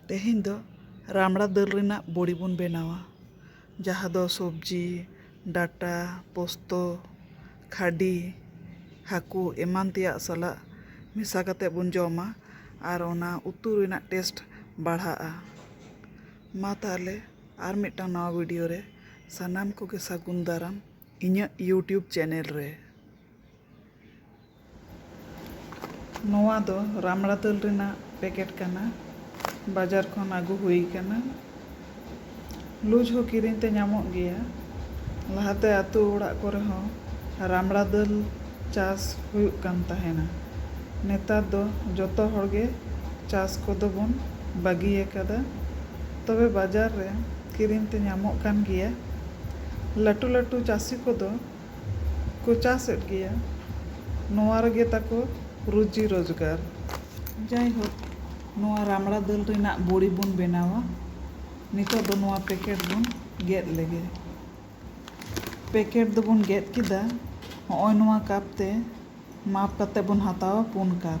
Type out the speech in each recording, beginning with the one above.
ᱛᱮᱦᱮᱧ ᱫᱚ ᱨᱟᱢᱲᱟ ᱫᱟᱹᱞ ᱨᱮᱱᱟᱜ ᱵᱚᱲᱤ ᱵᱚᱱ ᱵᱮᱱᱟᱣᱟ ᱡᱟᱦᱟᱸ ᱫᱚ ᱥᱚᱵᱽᱡᱤ ᱰᱟᱴᱟ ᱯᱚᱥᱛᱩ ᱠᱷᱟᱹᱰᱤ ᱦᱟᱹᱠᱩ ᱮᱢᱟᱱ ᱛᱮᱭᱟᱜ ᱥᱟᱞᱟᱜ ᱢᱮᱥᱟ ᱠᱟᱛᱮ ᱵᱚᱱ ᱡᱚᱢᱟ ᱟᱨ ᱚᱱᱟ ᱩᱛᱩ ᱨᱮᱱᱟᱜ ᱴᱮᱥᱴ ᱵᱟᱲᱦᱟᱜᱼᱟ ᱢᱟ ᱛᱟᱦᱚᱞᱮ ᱟᱨ ᱢᱤᱫᱴᱟᱝ ᱱᱟᱣᱟ ᱵᱷᱤᱰᱤᱭᱳ ᱨᱮ ᱥᱟᱱᱟᱢ ᱠᱚᱜᱮ ᱥᱟᱹᱜᱩᱱ ᱫᱟᱨᱟᱢ ᱤᱧᱟᱹᱜ ᱤᱭᱩᱴᱩᱵᱽ ᱪᱮᱱᱮᱞ ᱨᱮ ᱱᱚᱣᱟ ᱫᱚ ᱨᱟᱢᱲᱟ ᱫᱟᱹᱞ ᱨᱮᱱᱟᱜ ᱯᱮᱠᱮᱴ ᱠᱟᱱᱟ᱾ ᱵᱟᱡᱟᱨ ᱠᱷᱚᱱ ᱟᱹᱜᱩ ᱦᱩᱭ ᱟᱠᱟᱱᱟ᱾ ᱞᱩᱡᱽ ᱦᱚᱸ ᱠᱤᱨᱤᱧ ᱛᱮ ᱧᱟᱢᱚᱜ ᱜᱮᱭᱟ᱾ ᱞᱟᱦᱟ ᱛᱮ ᱟᱹᱛᱩ ᱚᱲᱟᱜ ᱠᱚᱨᱮ ᱦᱚᱸ ᱨᱟᱢᱲᱟ ᱫᱟᱹᱞ ᱪᱟᱥ ᱦᱩᱭᱩᱜ ᱠᱟᱱ ᱛᱟᱦᱮᱸᱱᱟ᱾ ᱱᱮᱛᱟᱨ ᱫᱚ ᱡᱚᱛᱚ ᱦᱚᱲ ᱜᱮ ᱪᱟᱥ ᱠᱚᱫᱚ ᱵᱚᱱ ᱵᱟᱹᱜᱤ ᱟᱠᱟᱫᱟ᱾ ᱛᱚᱵᱮ ᱵᱟᱡᱟᱨ ᱨᱮ ᱠᱤᱨᱤᱧ ᱛᱮ ᱧᱟᱢᱚᱜ ᱠᱟᱱ ᱜᱮᱭᱟ᱾ ᱞᱟᱹᱴᱩ ᱞᱟᱹᱴᱩ ᱪᱟᱹᱥᱤ ᱠᱚᱫᱚ᱾ ᱠᱚ ᱪᱟᱥ ᱮᱫ ᱜᱮᱭᱟ᱾ ᱱᱚᱣᱟ ᱨᱮᱜᱮ ᱛᱟᱠᱚ ᱨᱩᱡᱤ ᱨᱚᱡᱽᱜᱟᱨ᱾ ᱡᱟᱭᱦᱳᱠ ᱱᱚᱣᱟ ᱨᱟᱢᱲᱟ ᱫᱟᱹᱞ ᱨᱮᱱᱟᱜ ᱵᱚᱲᱤ ᱵᱚᱱ ᱵᱮᱱᱟᱣᱟ᱾ ᱱᱤᱛᱚᱜ ᱫᱚ ᱱᱚᱣᱟ ᱯᱮᱠᱮᱴ ᱵᱚᱱ ᱜᱮᱫ ᱞᱮᱜᱮ᱾ ᱯᱮᱠᱮᱴ ᱫᱚᱵᱚᱱ ᱜᱮᱫ ᱠᱮᱫᱟ᱾ ᱦᱚᱸᱜᱼᱚᱭ ᱱᱚᱣᱟ ᱠᱟᱯ ᱛᱮ ᱢᱟᱯ ᱠᱟᱛᱮ ᱵᱚᱱ ᱦᱟᱛᱟᱣᱟ ᱯᱩᱱ ᱠᱟᱯ᱾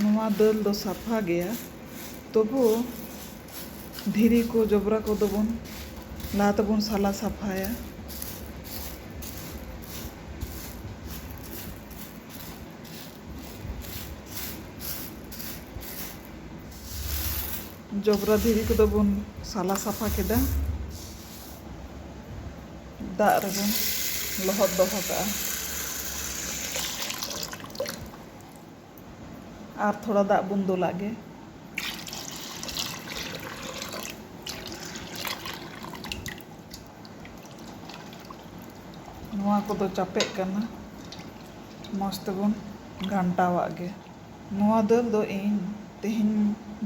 ᱱᱚᱣᱟ ᱫᱟᱹᱞ ᱫᱚ ᱥᱟᱯᱷᱟ ᱜᱮᱭᱟ ᱛᱚᱵᱩ ᱫᱷᱤᱨᱤ ᱠᱚ ᱡᱚᱵᱽᱨᱟ ᱠᱚᱫᱚ ᱵᱚᱱ ᱞᱟᱦᱟ ᱛᱮᱵᱚᱱ ᱥᱟᱞᱟ ᱥᱟᱯᱷᱟᱭᱟ ᱡᱚᱵᱽᱨᱟ ᱫᱷᱤᱨᱤ ᱠᱚᱫᱚ ᱵᱚᱱ ᱥᱟᱞᱟ ᱥᱟᱯᱷᱟ ᱠᱮᱫᱟ ᱫᱟᱜ ᱨᱮᱵᱚᱱ ᱞᱚᱦᱚᱫ ᱫᱚᱦᱚ ᱠᱟᱜᱼᱟ ᱟᱨ ᱛᱷᱚᱲᱟ ᱫᱟᱜ ᱵᱚᱱ ᱫᱩᱞᱟᱜ ᱜᱮ ᱱᱚᱣᱟ ᱠᱚᱫᱚ ᱪᱟᱯᱮᱜ ᱠᱟᱱᱟ ᱢᱚᱡᱽ ᱛᱮᱵᱚᱱ ᱜᱷᱟᱱᱴᱟᱣᱟᱜ ᱜᱮ ᱱᱚᱣᱟ ᱫᱟᱹᱞ ᱫᱚ ᱤᱧ ᱛᱮᱦᱮᱧ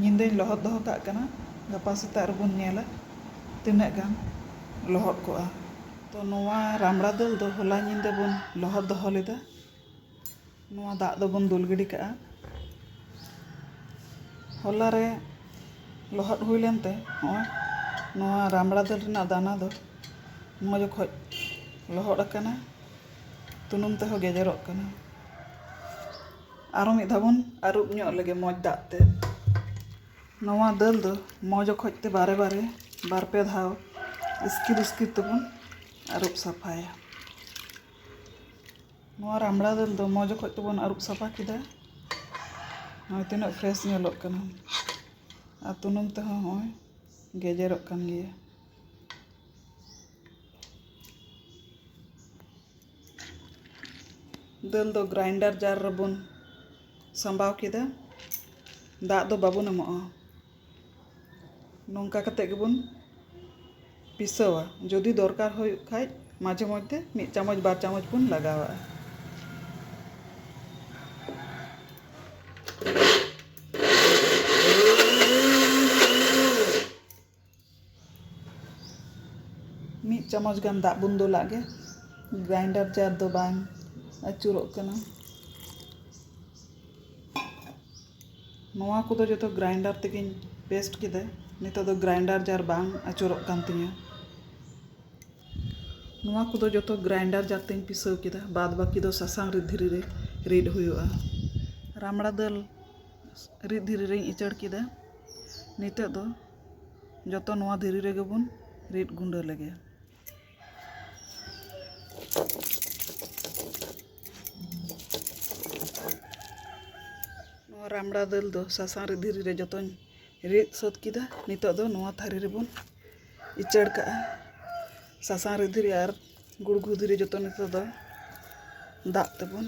ᱧᱤᱫᱟᱹᱧ ᱞᱚᱦᱚᱫ ᱫᱚᱦᱚ ᱠᱟᱜ ᱠᱟᱱᱟ ᱜᱟᱯᱟ ᱥᱮᱛᱟᱜ ᱨᱮᱵᱚᱱ ᱧᱮᱞᱟ ᱛᱤᱱᱟᱹᱜ ᱜᱟᱱ ᱞᱚᱦᱚᱫ ᱠᱚᱜᱼᱟ ᱛᱚ ᱱᱚᱣᱟ ᱨᱟᱢᱲᱟ ᱫᱟᱹᱞ ᱫᱚ ᱦᱚᱞᱟ ᱧᱤᱫᱟᱹ ᱵᱚᱱ ᱞᱚᱦᱚᱫ ᱫᱚᱦᱚ ᱞᱮᱫᱟ ᱱᱚᱣᱟ ᱫᱟᱜ ᱫᱚᱵᱚᱱ ᱫᱩᱞ ᱜᱤᱰᱤ ᱠᱟᱜᱼᱟ ᱦᱚᱞᱟ ᱨᱮ ᱞᱚᱦᱚᱫ ᱦᱩᱭ ᱞᱮᱱᱛᱮ ᱱᱚᱜᱼᱚᱭ ᱱᱚᱣᱟ ᱨᱟᱢᱲᱟ ᱫᱟᱹᱞ ᱨᱮᱱᱟᱜ ᱫᱟᱱᱟ ᱫᱚ ᱢᱚᱡᱽ ᱚᱠᱚᱡ ᱞᱚᱦᱚᱫ ᱟᱠᱟᱱᱟ ᱛᱩᱱᱩᱢ ᱛᱮᱦᱚᱸ ᱜᱮᱡᱮᱨᱚᱜ ᱠᱟᱱᱟ ᱟᱨᱚ ᱢᱤᱫ ᱫᱷᱟᱣ ᱵᱚᱱ ᱟᱹᱨᱩᱵ ᱧᱚᱜ ᱞᱮᱜᱮ ᱢᱚᱡᱽ ᱫᱟᱜ ᱛᱮ ᱱᱚᱣᱟ ᱫᱟᱹᱞ ᱫᱚ ᱢᱚᱡᱽ ᱚᱠᱚᱡ ᱛᱮ ᱵᱟᱨᱮ ᱵᱟᱨᱮ ᱵᱟᱨ ᱯᱮ ᱫᱷᱟᱣ ᱤᱥᱠᱤᱨ ᱤᱥᱠᱤᱨ ᱛᱮᱵᱚᱱ ᱟᱹᱨᱩᱵ ᱥᱟᱯᱷᱟᱭᱟ ᱱᱚᱣᱟ ᱨᱟᱢᱲᱟ ᱫᱟᱹᱞ ᱫᱚ ᱢᱚᱡᱽ ᱚᱠᱚᱡ ᱛᱮᱵᱚᱱ ᱟᱹᱨᱩᱵ ᱥᱟᱯᱷᱟ ᱠᱮᱫᱟ ᱱᱚᱜᱼᱚᱭ ᱛᱤᱱᱟᱹᱜ ᱯᱷᱨᱮᱥ ᱧᱮᱞᱚᱜ ᱠᱟᱱᱟ ᱟᱨ ᱛᱩᱱᱩᱢ ᱛᱮᱦᱚᱸ ᱦᱚᱸᱜᱼᱚᱭ ᱜᱮᱡᱮᱨᱚᱜ ᱠᱟᱱ ᱜᱮᱭᱟ ᱫᱟᱹᱞ ᱫᱚ ᱜᱨᱟᱭᱤᱱᱰᱟᱨ ᱡᱟᱨ ᱨᱮᱵᱚᱱ ᱥᱟᱢᱵᱟᱣ ᱠᱮᱫᱟ ᱫᱟᱜ ᱫᱚ ᱵᱟᱵᱚᱱ ᱮᱢᱚᱜᱼᱟ ᱱᱚᱝᱠᱟ ᱠᱟᱛᱮ ᱜᱮᱵᱚᱱ ᱯᱤᱥᱟᱹᱣᱟ ᱡᱩᱫᱤ ᱫᱚᱨᱠᱟᱨ ᱦᱩᱭᱩᱜ ᱠᱷᱟᱡ ᱢᱟᱡᱷᱮ ᱢᱚᱫᱽᱫᱷᱮ ᱢᱤᱫ ᱪᱟᱢᱚᱪ ᱵᱟᱨ ᱪᱟᱢᱚᱪ ᱵᱚᱱ ᱞᱟᱜᱟᱣᱟᱜᱼᱟ ᱢᱤᱫ ᱪᱟᱢᱚᱪ ᱜᱟᱱ ᱫᱟᱜ ᱵᱚᱱ ᱫᱩᱞᱟᱜ ᱜᱮ ᱜᱨᱟᱭᱤᱱᱰᱟᱨ ᱡᱟᱨ ᱫᱚ ᱵᱟᱝ ᱟᱹᱪᱩᱨᱚᱜ ᱠᱟᱱᱟ ᱱᱚᱣᱟ ᱠᱚᱫᱚ ᱡᱚᱛᱚ ᱜᱨᱟᱭᱤᱱᱰᱟᱨ ᱛᱮᱜᱮᱧ ᱯᱮᱥᱴ ᱠᱮᱫᱟ ᱱᱤᱛᱚᱜ ᱫᱚ ᱜᱨᱟᱭᱤᱱᱰᱟᱨ ᱡᱟᱨ ᱵᱟᱝ ᱟᱹᱪᱩᱨᱚᱜ ᱠᱟᱱ ᱛᱤᱧᱟᱹ ᱱᱚᱣᱟ ᱠᱚᱫᱚ ᱡᱚᱛᱚ ᱜᱨᱟᱭᱤᱱᱰᱟᱨ ᱡᱟᱨ ᱛᱤᱧ ᱯᱤᱥᱟᱹᱣ ᱠᱮᱫᱟ ᱵᱟᱫ ᱵᱟᱹᱠᱤ ᱫᱚ ᱥᱟᱥᱟᱝ ᱨᱤᱫ ᱫᱷᱤᱨᱤ ᱨᱮ ᱨᱤᱫ ᱦᱩᱭᱩᱜᱼᱟ ᱨᱟᱢᱲᱟ ᱫᱟᱹᱞ ᱨᱤᱫ ᱫᱷᱤᱨᱤ ᱨᱤᱧ ᱩᱪᱟᱹᱲ ᱠᱮᱫᱟ ᱱᱤᱛᱚᱜ ᱫᱚ ᱡᱚᱛᱚ ᱱᱚᱣᱟ ᱫᱷᱤᱨᱤ ᱨᱮᱜᱮ ᱵᱚᱱ ᱨᱤᱫ ᱜᱩᱰᱟᱹ ᱞᱮᱜᱮ ᱱᱚᱣᱟ ᱨᱟᱢᱲᱟ ᱫᱟᱹᱞ ᱫᱚ ᱥᱟᱥᱟᱝ ᱨᱤᱫ ᱫᱷᱤᱨᱤ ᱨᱮ ᱡᱚᱛᱚᱧ ᱨᱤᱫ ᱥᱟᱹᱛ ᱠᱮᱫᱟ ᱱᱤᱛᱚᱜ ᱫᱚ ᱱᱚᱣᱟ ᱛᱷᱟᱹᱨᱤ ᱨᱮᱵᱚᱱ ᱩᱪᱟᱹᱲ ᱠᱟᱜᱼᱟ ᱥᱟᱥᱟᱝ ᱨᱤᱫ ᱫᱷᱤᱨᱤ ᱟᱨ ᱜᱩᱲᱜᱩ ᱫᱷᱤᱨᱤ ᱡᱚᱛᱚ ᱱᱤᱛᱚᱜ ᱫᱚ ᱫᱟᱜ ᱛᱮᱵᱚᱱ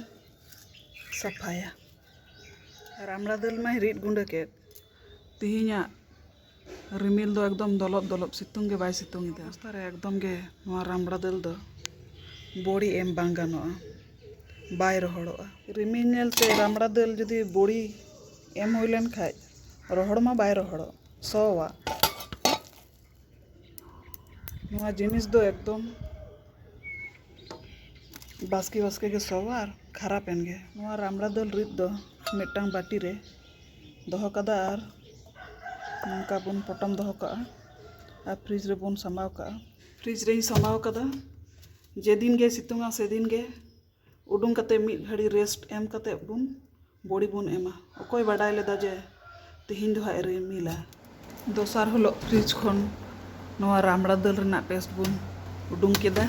ᱥᱟᱯᱷᱟᱭᱟ ᱨᱟᱢᱲᱟ ᱫᱟᱹᱞ ᱢᱟᱹᱧ ᱨᱤᱫ ᱜᱩᱸᱰᱟᱹ ᱠᱮᱫ ᱛᱮᱦᱮᱧᱟᱜ ᱨᱤᱢᱤᱞ ᱫᱚ ᱮᱠᱫᱚᱢ ᱫᱚᱞᱚᱵ ᱫᱚᱞᱚᱵ ᱥᱤᱛᱩᱝ ᱜᱮ ᱵᱟᱭ ᱥᱤᱛᱩᱝ ᱮᱫᱟ ᱚᱵᱚᱥᱛᱟ ᱨᱮ ᱮᱠᱫᱚᱢ ᱜᱮ ᱱᱚᱣᱟ ᱨᱟᱢᱲᱟ ᱫᱟᱹᱞ ᱫᱚ ᱵᱚᱲᱤ ᱮᱢ ᱵᱟᱝ ᱜᱟᱱᱚᱜᱼᱟ ᱵᱟᱭ ᱨᱚᱦᱚᱲᱚᱜᱼᱟ ᱨᱤᱢᱤᱞ ᱧᱮᱞᱛᱮ ᱨᱟᱢᱲᱟ ᱫᱟᱹᱞ ᱡᱩᱫᱤ ᱵᱚᱲᱤ ᱮᱢ ᱦᱩᱭ ᱞᱮᱱᱠᱷᱟᱱ ᱨᱚᱦᱚᱲ ᱢᱟ ᱵᱟᱭ ᱨᱚᱦᱚᱲᱚᱜ ᱥᱚᱣᱟ ᱱᱚᱣᱟ ᱡᱤᱱᱤᱥ ᱫᱚ ᱮᱠᱫᱚᱢ ᱵᱟᱥᱠᱮ ᱵᱟᱥᱠᱮ ᱜᱮ ᱥᱚᱣᱟ ᱟᱨ ᱠᱷᱟᱨᱟᱯ ᱮᱱ ᱜᱮ ᱱᱚᱣᱟ ᱨᱟᱢᱲᱟ ᱫᱟᱹᱞ ᱨᱤᱫ ᱫᱚ ᱢᱤᱫᱴᱟᱝ ᱵᱟᱹᱴᱤ ᱨᱮ ᱫᱚᱦᱚ ᱠᱟᱫᱟ ᱟᱨ ᱱᱚᱝᱠᱟ ᱵᱚᱱ ᱯᱚᱴᱚᱢ ᱫᱚᱦᱚ ᱠᱟᱜᱼᱟ ᱟᱨ ᱯᱷᱨᱤᱡᱽ ᱨᱮᱵᱚᱱ ᱥᱟᱢᱵᱟᱣ ᱠᱟᱜᱼᱟ ᱯᱷᱨᱤᱡᱽ ᱨᱤᱧ ᱥᱟᱢᱵᱟᱣ ᱠᱟᱫᱟ ᱡᱮᱫᱤᱱ ᱜᱮ ᱥᱤᱛᱩᱝᱟ ᱥᱮᱫᱤᱱ ᱜᱮ ᱩᱰᱩᱝ ᱠᱟᱛᱮᱫ ᱢᱤᱫ ᱜᱷᱟᱹᱲᱤ ᱨᱮᱥᱴ ᱮᱢ ᱠᱟᱛᱮᱫ ᱵᱚᱱ ᱵᱚᱲᱤ ᱵᱚᱱ ᱮᱢᱟ ᱚᱠᱚᱭ ᱵᱟᱰᱟᱭ ᱞᱮᱫᱟ ᱡᱮ ᱛᱮᱦᱮᱧ ᱫᱚ ᱦᱟᱸᱜ ᱮ ᱨᱤᱢᱤᱞᱟ᱾ ᱫᱚᱥᱟᱨ ᱦᱤᱞᱚᱜ ᱯᱷᱨᱤᱡᱽ ᱠᱷᱚᱱ ᱱᱚᱣᱟ ᱨᱟᱢᱲᱟ ᱫᱟᱹᱞ ᱨᱮᱱᱟᱜ ᱯᱮᱥᱴ ᱵᱚᱱ ᱩᱰᱩᱝ ᱠᱮᱫᱟ᱾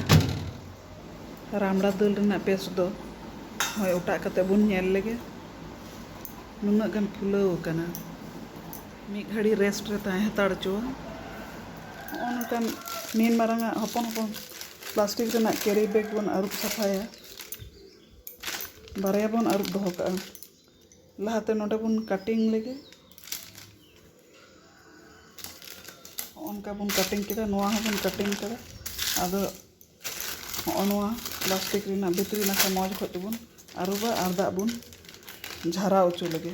ᱨᱟᱢᱲᱟ ᱫᱟᱹᱞ ᱨᱮᱱᱟᱜ ᱯᱮᱥᱴ ᱫᱚ ᱦᱚᱸᱭ ᱚᱴᱟᱜ ᱠᱟᱛᱮᱫ ᱵᱚᱱ ᱧᱮᱞ ᱞᱮᱜᱮ ᱱᱩᱱᱟᱹᱜ ᱜᱟᱱ ᱯᱷᱩᱞᱟᱹᱣ ᱟᱠᱟᱱᱟ᱾ ᱢᱤᱫ ᱜᱷᱟᱹᱲᱤ ᱨᱮᱥᱴ ᱨᱮ ᱛᱟᱦᱮᱸ ᱦᱟᱛᱟᱲ ᱚᱪᱚᱣᱟ᱾ ᱦᱚᱸᱜᱼᱚ ᱱᱚᱝᱠᱟᱱ ᱱᱤᱱ ᱢᱟᱨᱟᱝ ᱟᱜ ᱦᱚᱯᱚᱱ ᱦᱚᱯᱚᱱ ᱯᱞᱟᱥᱴᱤᱠ ᱨᱮᱱᱟᱜ ᱠᱮᱨᱤ ᱵᱮᱜᱽ ᱵᱚᱱ ᱟᱹᱨᱩᱵ ᱥᱟᱯᱷᱟᱭᱟ ᱵᱟᱨᱭᱟ ᱵᱚᱱ ᱟᱹᱨᱩᱵ ᱫᱚᱦᱚ ᱠᱟᱜᱼᱟ ᱞᱟᱦᱟᱛᱮ ᱱᱚᱰᱮ ᱵᱚᱱ ᱠᱟᱴᱤᱝ ᱞᱮᱜᱮ ᱚᱱᱠᱟ ᱵᱚᱱ ᱠᱟᱴᱤᱝ ᱠᱮᱫᱟ ᱱᱚᱣᱟ ᱦᱚᱸᱵᱚᱱ ᱠᱟᱴᱤᱝ ᱠᱮᱫᱟ ᱟᱫᱚ ᱦᱚᱸᱜᱼᱚ ᱱᱚᱣᱟ ᱯᱞᱟᱥᱴᱤᱠ ᱨᱮᱱᱟᱜ ᱵᱷᱤᱛᱨᱤ ᱱᱟᱠᱷᱟ ᱢᱚᱡᱽ ᱚᱠᱚᱡ ᱛᱮᱵᱚᱱ ᱟᱹᱨᱩᱵᱟ ᱟᱨ ᱫᱟᱜ ᱵᱚᱱ ᱡᱷᱟᱨᱟᱣ ᱦᱚᱪᱚ ᱞᱮᱜᱮ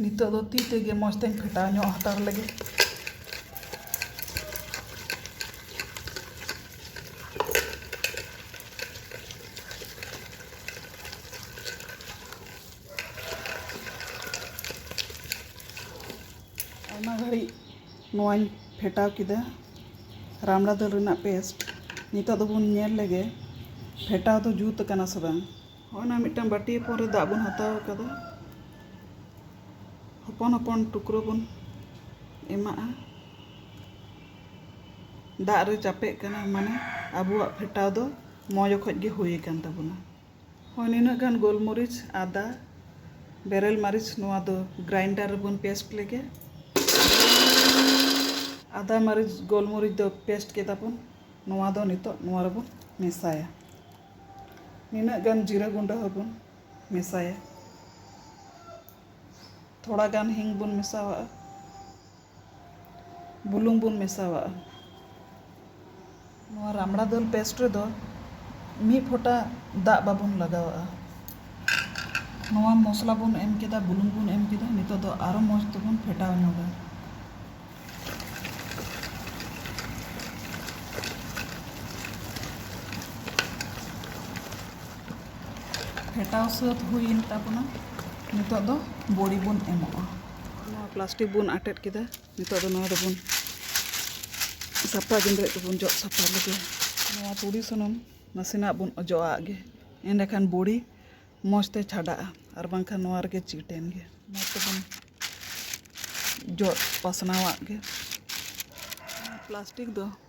ᱱᱤᱛᱚᱜ ᱫᱚ ᱛᱤ ᱛᱮᱜᱮ ᱢᱚᱡᱽ ᱛᱮᱧ ᱯᱷᱮᱴᱟᱣ ᱧᱚᱜ ᱦᱟᱛᱟᱲ ᱞᱮᱜᱮ ᱱᱚᱣᱟᱧ ᱯᱷᱮᱴᱟᱣ ᱠᱮᱫᱟ ᱨᱟᱢᱲᱟ ᱫᱟᱹᱞ ᱨᱮᱱᱟᱜ ᱯᱮᱥᱴ ᱱᱤᱛᱚᱜ ᱫᱚᱵᱚᱱ ᱧᱮᱞ ᱞᱮᱜᱮ ᱯᱷᱮᱴᱟᱣ ᱫᱚ ᱡᱩᱛ ᱟᱠᱟᱱᱟ ᱥᱮ ᱵᱟᱝ ᱦᱚᱸᱜᱼᱚᱭ ᱱᱟ ᱢᱤᱫᱴᱟᱝ ᱵᱟᱹᱴᱤ ᱦᱚᱯᱚᱱ ᱨᱮ ᱫᱟᱜ ᱵᱚᱱ ᱦᱟᱛᱟᱣ ᱟᱠᱟᱫᱟ ᱦᱚᱯᱚᱱ ᱦᱚᱯᱚᱱ ᱴᱩᱠᱨᱳ ᱵᱚᱱ ᱮᱢᱟᱜᱼᱟ ᱫᱟᱜ ᱨᱮ ᱪᱟᱯᱮᱜ ᱠᱟᱱᱟ ᱢᱟᱱᱮ ᱟᱵᱚᱣᱟᱜ ᱯᱷᱮᱴᱟᱣ ᱫᱚ ᱢᱚᱡᱽ ᱚᱠᱚᱡ ᱜᱮ ᱦᱩᱭ ᱟᱠᱟᱱ ᱛᱟᱵᱚᱱᱟ ᱦᱳᱭ ᱱᱤᱱᱟᱹᱜ ᱜᱟᱱ ᱜᱳᱞᱢᱚᱨᱤᱪ ᱟᱫᱟ ᱵᱮᱨᱮᱞ ᱢᱟᱹᱨᱤᱪ ᱱᱚᱣᱟ ᱫᱚ ᱜᱨᱟᱭᱤᱱᱰᱟᱨ ᱨᱮᱵᱚᱱ ᱯᱮᱥᱴ ᱞᱮᱜᱮ ᱟᱫᱟ ᱢᱟᱹᱨᱤᱪ ᱜᱳᱞᱢᱚᱨᱤᱪ ᱫᱚ ᱯᱮᱥᱴ ᱠᱮᱫᱟ ᱵᱚᱱ ᱱᱚᱣᱟ ᱫᱚ ᱱᱤᱛᱚᱜ ᱱᱚᱣᱟ ᱨᱮᱵᱚᱱ ᱢᱮᱥᱟᱭᱟ ᱱᱤᱱᱟᱹᱜ ᱜᱟᱱ ᱡᱤᱨᱟᱹ ᱜᱩᱸᱰᱟᱹ ᱦᱚᱸᱵᱚᱱ ᱢᱮᱥᱟᱭᱟ ᱛᱷᱚᱲᱟ ᱜᱟᱱ ᱦᱤᱝ ᱵᱚᱱ ᱢᱮᱥᱟᱣᱟᱜᱼᱟ ᱵᱩᱞᱩᱝ ᱵᱚᱱ ᱢᱮᱥᱟᱣᱟᱜᱼᱟ᱾ ᱱᱚᱣᱟ ᱨᱟᱢᱲᱟ ᱫᱟᱹᱞ ᱯᱮᱥᱴ ᱨᱮᱫᱚ ᱢᱤᱫ ᱯᱷᱚᱴᱟ ᱫᱟᱜ ᱵᱟᱵᱚᱱ ᱞᱟᱜᱟᱣᱟᱜᱼᱟ᱾ ᱱᱚᱣᱟ ᱢᱚᱥᱞᱟ ᱵᱚᱱ ᱮᱢ ᱠᱮᱫᱟ, ᱵᱩᱞᱩᱝ ᱵᱚᱱ ᱮᱢ ᱠᱮᱫᱟ, ᱱᱤᱛᱚᱜ ᱫᱚ ᱟᱨᱚ ᱢᱚᱡᱽ ᱛᱮᱵᱚᱱ ᱯᱷᱮᱴᱟᱣ ᱧᱚᱜᱟ᱾ ᱯᱷᱮᱴᱟᱣ ᱥᱟᱹᱛ ᱦᱩᱭᱮᱱ ᱛᱟᱵᱚᱱᱟ, ᱱᱤᱛᱚᱜ ᱫᱚ ᱵᱚᱲᱤ ᱵᱚᱱ ᱮᱢᱟᱜᱼᱟ᱾ ᱱᱚᱣᱟ ᱯᱞᱟᱥᱴᱤᱠ ᱵᱚᱱ ᱟᱴᱮᱫ ᱠᱮᱫᱟ ᱱᱤᱛᱳᱜ ᱫᱚ ᱱᱚᱣᱟ ᱫᱚᱵᱚᱱ ᱥᱟᱯᱟ ᱜᱮᱸᱫᱽᱨᱮᱡ ᱠᱚᱵᱚᱱ ᱡᱚᱫ ᱥᱟᱯᱟ ᱞᱮᱜᱮ ᱱᱚᱣᱟ ᱛᱩᱲᱤ ᱥᱩᱱᱩᱢ ᱱᱟᱥᱮᱱᱟᱜ ᱵᱚᱱ ᱚᱡᱚᱜ ᱟᱜ ᱜᱮ ᱮᱸᱰᱮᱠᱷᱟᱱ ᱵᱩᱲᱤ ᱢᱚᱡᱽ ᱛᱮ ᱪᱷᱟᱰᱟᱜᱼᱟ ᱟᱨ ᱵᱟᱝᱠᱷᱟᱱ ᱱᱚᱣᱟ ᱨᱮᱜᱮ ᱪᱤᱴ ᱮᱱ ᱜᱮ ᱢᱚᱡᱽ ᱛᱮᱵᱚᱱ ᱡᱚᱫ ᱯᱟᱥᱱᱟᱣᱟᱜ ᱜᱮ ᱯᱞᱟᱥᱴᱤᱠ ᱫᱚ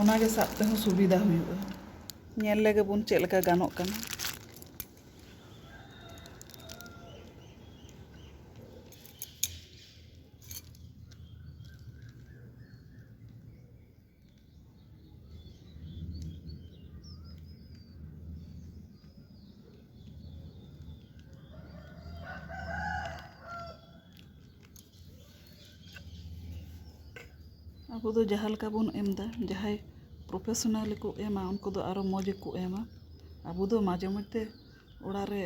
ᱚᱱᱟᱜᱮ ᱥᱟᱵ ᱛᱮᱦᱚᱸ ᱥᱩᱵᱤᱫᱟ ᱦᱩᱭᱩᱜᱼᱟ ᱧᱮᱞ ᱞᱮᱜᱮ ᱵᱚᱱ ᱪᱮᱫ ᱞᱮᱠᱟ ᱜᱟᱱᱚᱜ ᱠᱟᱱᱟ ᱟᱵᱚ ᱫᱚ ᱡᱟᱦᱟᱸ ᱞᱮᱠᱟ ᱵᱚᱱ ᱮᱢ ᱮᱫᱟ ᱡᱟᱦᱟᱸᱭ ᱯᱨᱚᱯᱷᱮᱥᱚᱱᱟᱞ ᱠᱚ ᱮᱢᱟ ᱩᱱᱠᱩ ᱫᱚ ᱟᱨᱚ ᱢᱚᱡᱽ ᱜᱮᱠᱚ ᱮᱢᱟ ᱟᱵᱚ ᱫᱚ ᱢᱟᱡᱷᱮ ᱢᱚᱫᱽᱫᱷᱮ ᱚᱲᱟᱜ ᱨᱮ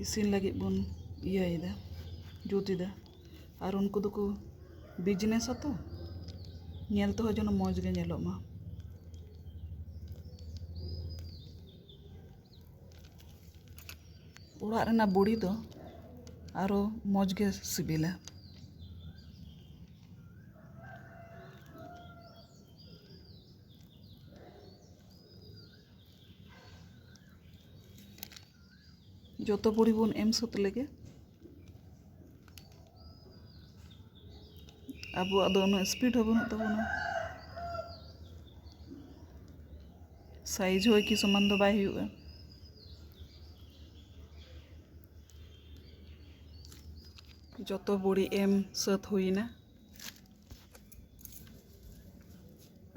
ᱤᱥᱤᱱ ᱞᱟᱹᱜᱤᱫ ᱵᱚᱱ ᱤᱭᱟᱹᱭᱮᱫᱟ ᱡᱩᱛ ᱮᱫᱟ ᱟᱨ ᱩᱱᱠᱩ ᱫᱚᱠᱚ ᱵᱤᱡᱽᱱᱮᱥ ᱟᱛᱚ ᱧᱮᱞ ᱛᱮᱦᱚᱸ ᱡᱮᱱᱚ ᱢᱚᱡᱽ ᱜᱮ ᱧᱮᱞᱚᱜ ᱢᱟ ᱚᱲᱟᱜ ᱨᱮᱱᱟᱜ ᱵᱩᱲᱤ ᱫᱚ ᱟᱨᱚ ᱢᱚᱡᱽ ᱜᱮ ᱥᱤᱵᱤᱞᱟ ᱡᱚᱛᱚ ᱵᱩᱲᱤ ᱵᱚᱱ ᱮᱢ ᱥᱟᱹᱛ ᱞᱮᱜᱮ ᱟᱵᱚᱣᱟᱜ ᱫᱚ ᱩᱱᱟᱹᱜ ᱤᱥᱯᱤᱰ ᱦᱚᱸ ᱵᱟᱹᱱᱩᱜ ᱛᱟᱵᱚᱱᱟ ᱥᱟᱭᱤᱡᱽ ᱦᱚᱸ ᱮᱠᱤ ᱥᱚᱢᱟᱱ ᱫᱚ ᱵᱟᱭ ᱦᱩᱭᱩᱜᱼᱟ ᱡᱚᱛᱚ ᱵᱚᱲᱤ ᱮᱢ ᱥᱟᱹᱛ ᱦᱩᱭᱮᱱᱟ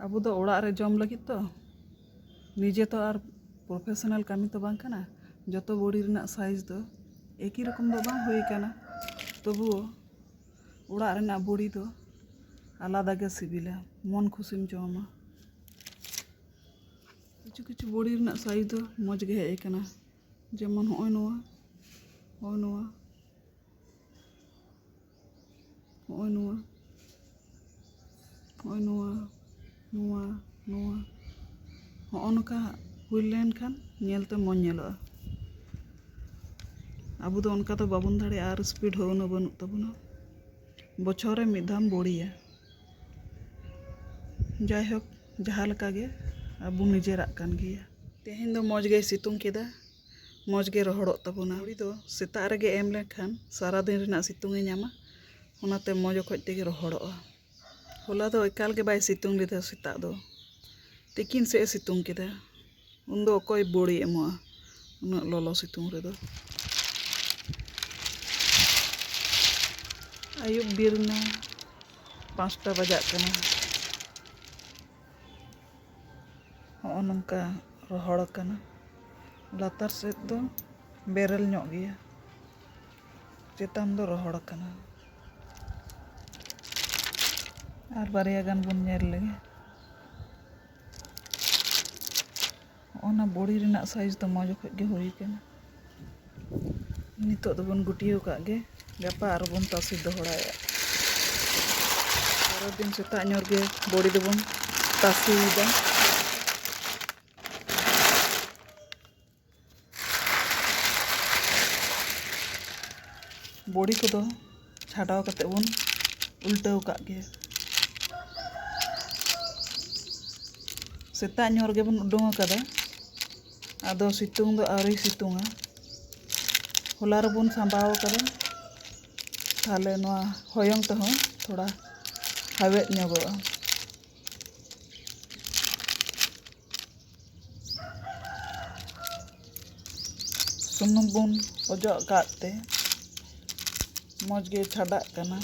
ᱟᱵᱚ ᱫᱚ ᱚᱲᱟᱜ ᱨᱮ ᱡᱚᱢ ᱞᱟᱹᱜᱤᱫ ᱛᱚ ᱱᱤᱡᱮ ᱛᱚ ᱟᱨ ᱯᱨᱚᱯᱷᱮᱥᱚᱱᱟᱞ ᱠᱟᱹᱢᱤ ᱛᱚ ᱵᱟᱝ ᱠᱟᱱᱟ ᱡᱚᱛᱚ ᱵᱚᱰᱤ ᱨᱮᱱᱟᱜ ᱥᱟᱭᱤᱡᱽ ᱫᱚ ᱮᱠᱤ ᱨᱚᱠᱚᱢ ᱫᱚ ᱵᱟᱝ ᱦᱩᱭ ᱠᱟᱱᱟ ᱛᱚᱵᱩᱣᱳ ᱚᱲᱟᱜ ᱨᱮᱱᱟᱜ ᱵᱚᱰᱤ ᱫᱚ ᱟᱞᱟᱫᱟ ᱜᱮ ᱥᱤᱵᱤᱞᱟ ᱢᱚᱱ ᱠᱷᱩᱥᱤᱢ ᱡᱚᱢᱟ ᱠᱤᱪᱷᱩ ᱠᱤᱪᱷᱩ ᱵᱚᱰᱤ ᱨᱮᱱᱟᱜ ᱥᱟᱭᱤᱡᱽ ᱫᱚ ᱢᱚᱡᱽ ᱜᱮ ᱦᱮᱡ ᱟᱠᱟᱱᱟ ᱡᱮᱢᱚᱱ ᱦᱚᱸᱜᱼᱚᱭ ᱱᱚᱣᱟ ᱦᱚᱸᱜᱼᱚᱭ ᱱᱚᱣᱟ ᱦᱚᱸᱜᱼᱚᱭ ᱱᱚᱣᱟ ᱦᱚᱸᱜᱼᱚᱭ ᱱᱚᱣᱟ ᱱᱚᱣᱟ ᱱᱚᱣᱟ ᱦᱚᱸᱜᱼᱚ ᱱᱚᱝᱠᱟ ᱦᱩᱭ ᱞᱮᱱᱠᱷᱟᱱ ᱧᱮᱞᱛᱮ ᱢᱚᱡᱽ ᱧᱮᱞᱚᱜᱼᱟ ᱟᱵᱚ ᱫᱚ ᱚᱱᱠᱟ ᱫᱚ ᱵᱟᱵᱚᱱ ᱫᱟᱲᱮᱭᱟᱜᱼᱟ ᱟᱨ ᱥᱯᱤᱰ ᱦᱚᱸ ᱩᱱᱟᱹᱜ ᱵᱟᱹᱱᱩᱜ ᱛᱟᱵᱚᱱᱟ ᱵᱚᱪᱷᱚᱨ ᱨᱮ ᱢᱤᱫ ᱫᱷᱟᱣᱮᱢ ᱵᱳᱲᱤᱭᱟ ᱡᱟᱭᱦᱳᱠ ᱡᱟᱦᱟᱸ ᱞᱮᱠᱟᱜᱮ ᱟᱵᱚ ᱱᱤᱡᱮᱨᱟᱜ ᱠᱟᱱ ᱜᱮᱭᱟ ᱛᱮᱦᱮᱧ ᱫᱚ ᱢᱚᱡᱽ ᱜᱮᱭ ᱥᱤᱛᱩᱝ ᱠᱮᱫᱟ ᱢᱚᱡᱽ ᱜᱮ ᱨᱚᱦᱚᱲᱚᱜ ᱛᱟᱵᱚᱱᱟ ᱛᱩᱲᱤ ᱫᱚ ᱥᱮᱛᱟᱜ ᱨᱮᱜᱮ ᱮᱢ ᱞᱮᱠᱷᱟᱱ ᱥᱟᱨᱟ ᱫᱤᱱ ᱨᱮᱱᱟᱜ ᱥᱤᱛᱩᱝ ᱮ ᱧᱟᱢᱟ ᱚᱱᱟᱛᱮ ᱢᱚᱡᱽ ᱚᱠᱚᱡ ᱛᱮᱜᱮ ᱨᱚᱦᱚᱲᱚᱜᱼᱟ ᱦᱚᱞᱟ ᱫᱚ ᱮᱠᱟᱞ ᱜᱮ ᱵᱟᱭ ᱥᱤᱛᱩᱝ ᱞᱮᱫᱟ ᱥᱮᱛᱟᱜ ᱫᱚ ᱛᱤᱠᱤᱱ ᱥᱮᱫ ᱮ ᱥᱤᱛᱩᱝ ᱠᱮᱫᱟ ᱩᱱ ᱫᱚ ᱚᱠᱚᱭ ᱵᱳᱲᱮ ᱮᱢᱚᱜᱼᱟ ᱩᱱᱟᱹᱜ ᱞᱚᱞᱚ ᱥᱤᱛᱩᱝ ᱨᱮᱫᱚ ᱟᱹᱭᱩᱵ ᱵᱮᱨ ᱮᱱᱟ ᱯᱟᱸᱪᱴᱟ ᱵᱟᱡᱟᱜ ᱠᱟᱱᱟ ᱦᱚᱸᱜᱼᱚ ᱱᱚᱝᱠᱟ ᱨᱚᱦᱚᱲ ᱟᱠᱟᱱᱟ ᱞᱟᱛᱟᱨ ᱥᱮᱫ ᱫᱚ ᱵᱮᱨᱮᱞ ᱧᱚᱜ ᱜᱮᱭᱟ ᱪᱮᱛᱟᱱ ᱫᱚ ᱨᱚᱦᱚᱲ ᱟᱠᱟᱱᱟ ᱟᱨ ᱵᱟᱨᱭᱟ ᱜᱟᱱ ᱵᱚᱱ ᱧᱮᱞ ᱞᱮᱜᱮ ᱚᱱᱟ ᱵᱚᱲᱤ ᱨᱮᱱᱟᱜ ᱥᱟᱭᱤᱡᱽ ᱫᱚ ᱢᱚᱡᱽ ᱚᱠᱚᱡ ᱜᱮ ᱦᱩᱭ ᱟᱠᱟᱱᱟ ᱱᱤᱛᱳᱜ ᱫᱚᱵᱚᱱ ᱜᱩᱴᱭᱟᱹᱣ ᱠᱟᱜ ᱜᱮ ᱜᱟᱯᱟ ᱟᱨᱚ ᱵᱚᱱ ᱛᱟᱥᱮ ᱫᱚᱦᱲᱟᱭᱟ ᱯᱚᱨᱮᱨ ᱫᱤᱱ ᱥᱮᱛᱟᱜ ᱧᱚᱜ ᱜᱮ ᱵᱚᱲᱤ ᱫᱚᱵᱚᱱ ᱛᱟᱥᱮᱭᱮᱫᱟ ᱵᱚᱲᱤ ᱠᱚᱫᱚ ᱪᱷᱟᱰᱟᱣ ᱠᱟᱛᱮ ᱵᱚᱱ ᱩᱞᱴᱟᱹᱣ ᱠᱟᱜ ᱜᱮ ᱥᱮᱛᱟᱜ ᱧᱚᱜ ᱨᱮᱜᱮ ᱵᱚᱱ ᱩᱰᱩᱝ ᱟᱠᱟᱫᱟ ᱟᱫᱚ ᱥᱤᱛᱩᱝ ᱫᱚ ᱟᱹᱣᱨᱤ ᱥᱤᱛᱩᱝᱟ ᱦᱚᱞᱟ ᱨᱮᱵᱚᱱ ᱥᱟᱸᱵᱟᱣ ᱟᱠᱟᱫᱟ ᱛᱟᱦᱞᱮ ᱱᱚᱣᱟ ᱦᱚᱭᱚᱝ ᱛᱮᱦᱚᱸ ᱛᱷᱚᱲᱟ ᱦᱟᱣᱮᱫ ᱧᱚᱜᱚᱜᱼᱟ ᱥᱩᱱᱩᱢ ᱵᱚᱱ ᱚᱡᱚᱜ ᱠᱟᱜ ᱛᱮ ᱢᱚᱡᱽ ᱜᱮ ᱪᱷᱟᱰᱟᱜ ᱠᱟᱱᱟ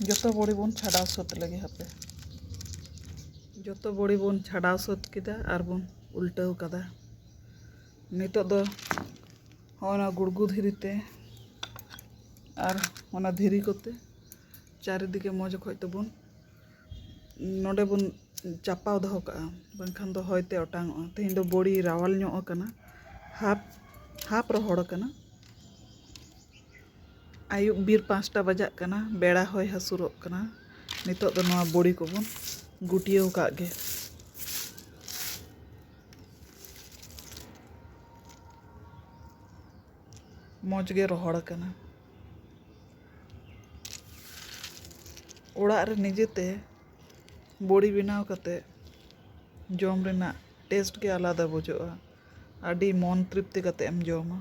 ᱡᱚᱛᱚ ᱵᱚᱲᱤ ᱵᱚᱱ ᱪᱷᱟᱰᱟᱣ ᱥᱟᱹᱛ ᱞᱮᱜᱮ ᱦᱟᱯᱮ ᱡᱚᱛᱚ ᱵᱚᱲᱤ ᱵᱚᱱ ᱪᱷᱟᱰᱟᱣ ᱥᱟᱹᱛ ᱠᱮᱫᱟ ᱟᱨ ᱵᱚᱱ ᱩᱞᱴᱟᱹᱣ ᱠᱟᱫᱟ ᱱᱤᱛᱚᱜ ᱫᱚ ᱦᱚᱸᱜᱼᱚ ᱱᱚᱣᱟ ᱜᱩᱲᱜᱩ ᱫᱷᱤᱨᱤ ᱛᱮ ᱟᱨ ᱚᱱᱟ ᱫᱷᱤᱨᱤ ᱠᱚᱛᱮ ᱪᱟᱨᱤᱫᱤᱠᱮ ᱢᱚᱡᱽ ᱚᱠᱚᱡ ᱛᱮᱵᱚᱱ ᱱᱚᱰᱮ ᱵᱚᱱ ᱪᱟᱯᱟᱣ ᱫᱚᱦᱚ ᱠᱟᱜᱼᱟ ᱵᱟᱝᱠᱷᱟᱱ ᱫᱚ ᱦᱚᱭ ᱛᱮ ᱚᱴᱟᱝᱚᱜᱼᱟ ᱛᱮᱦᱮᱧ ᱫᱚ ᱵᱚᱲᱤ ᱨᱟᱣᱟᱞ ᱧᱚᱜ ᱟᱠᱟᱱᱟ ᱦᱟᱯ ᱦᱟᱯ ᱨᱚᱦᱚᱲ ᱟᱠᱟᱱᱟ ᱟᱹᱭᱩᱵ ᱵᱤᱨ ᱯᱟᱸᱪᱴᱟ ᱵᱟᱡᱟᱜ ᱠᱟᱱᱟ ᱵᱮᱲᱟ ᱦᱚᱭ ᱦᱟᱹᱥᱩᱨᱚᱜ ᱠᱟᱱᱟ ᱱᱤᱛᱚᱜ ᱫᱚ ᱱᱚᱣᱟ ᱵᱚᱲᱤ ᱠᱚᱵᱚᱱ ᱜᱩᱴᱭᱟᱹᱣ ᱠᱟᱜ ᱜᱮ ᱢᱚᱡᱽ ᱜᱮ ᱨᱚᱦᱚᱲ ᱟᱠᱟᱱᱟ ᱚᱲᱟᱜ ᱨᱮ ᱱᱤᱡᱮ ᱛᱮ ᱵᱚᱲᱤ ᱵᱮᱱᱟᱣ ᱠᱟᱛᱮ ᱡᱚᱢ ᱨᱮᱱᱟᱜ ᱴᱮᱥᱴ ᱜᱮ ᱟᱞᱟᱫᱟ ᱵᱩᱡᱷᱟᱹᱜᱼᱟ ᱟᱹᱰᱤ ᱢᱚᱱ ᱛᱨᱤᱯᱛᱤ ᱠᱟᱛᱮᱢ ᱡᱚᱢᱟ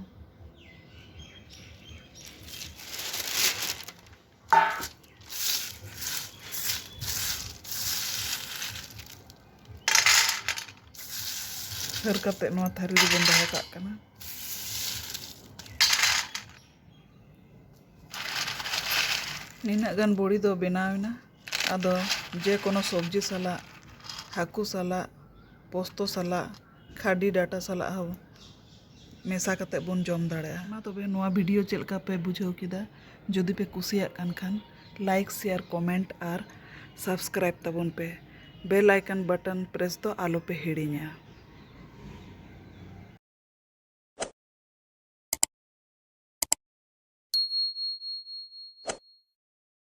ᱦᱟᱹᱨ ᱠᱟᱛᱮ ᱱᱚᱣᱟ ᱛᱷᱟᱹᱨᱤ ᱨᱮᱵᱚᱱ ᱫᱚᱦᱚ ᱠᱟᱜ ᱠᱟᱱᱟ ᱱᱤᱱᱟᱹᱜ ᱜᱟᱱ ᱵᱚᱲᱤ ᱫᱚ ᱵᱮᱱᱟᱣᱮᱱᱟ ᱟᱫᱚ ᱡᱮ ᱠᱳᱱᱳ ᱥᱚᱵᱽᱡᱤ ᱥᱟᱞᱟᱜ ᱦᱟᱹᱠᱩ ᱥᱟᱞᱟᱜ ᱯᱚᱥᱛᱩ ᱥᱟᱞᱟᱜ ᱠᱷᱟᱹᱰᱤ ᱰᱟᱴᱟ ᱥᱟᱞᱟᱜ ᱦᱚᱸ ᱢᱮᱥᱟ ᱠᱟᱛᱮ ᱵᱚᱱ ᱡᱚᱢ ᱫᱟᱲᱮᱭᱟᱜᱼᱟ ᱢᱟ ᱛᱚᱵᱮ ᱱᱚᱣᱟ ᱵᱷᱤᱰᱤᱭᱳ ᱪᱮᱫ ᱞᱮᱠᱟ ᱯᱮ ᱵᱩᱡᱷᱟᱹᱣ ᱠᱮᱫᱟ ᱡᱩᱫᱤ ᱯᱮ ᱠᱩᱥᱤᱭᱟᱜ ᱠᱟᱱ ᱠᱷᱟᱱ ᱞᱟᱭᱤᱠ ᱥᱮᱭᱟᱨ ᱠᱚᱢᱮᱱᱴ ᱟᱨ ᱥᱟᱵᱥᱠᱨᱟᱭᱤᱵ ᱛᱟᱵᱚᱱ ᱯᱮ ᱵᱮᱞ ᱟᱭᱠᱚᱱ ᱵᱟᱴᱚᱱ ᱯᱨᱮᱥ ᱫᱚ ᱟᱞᱚ ᱯᱮ ᱦᱤᱲᱤᱧᱟ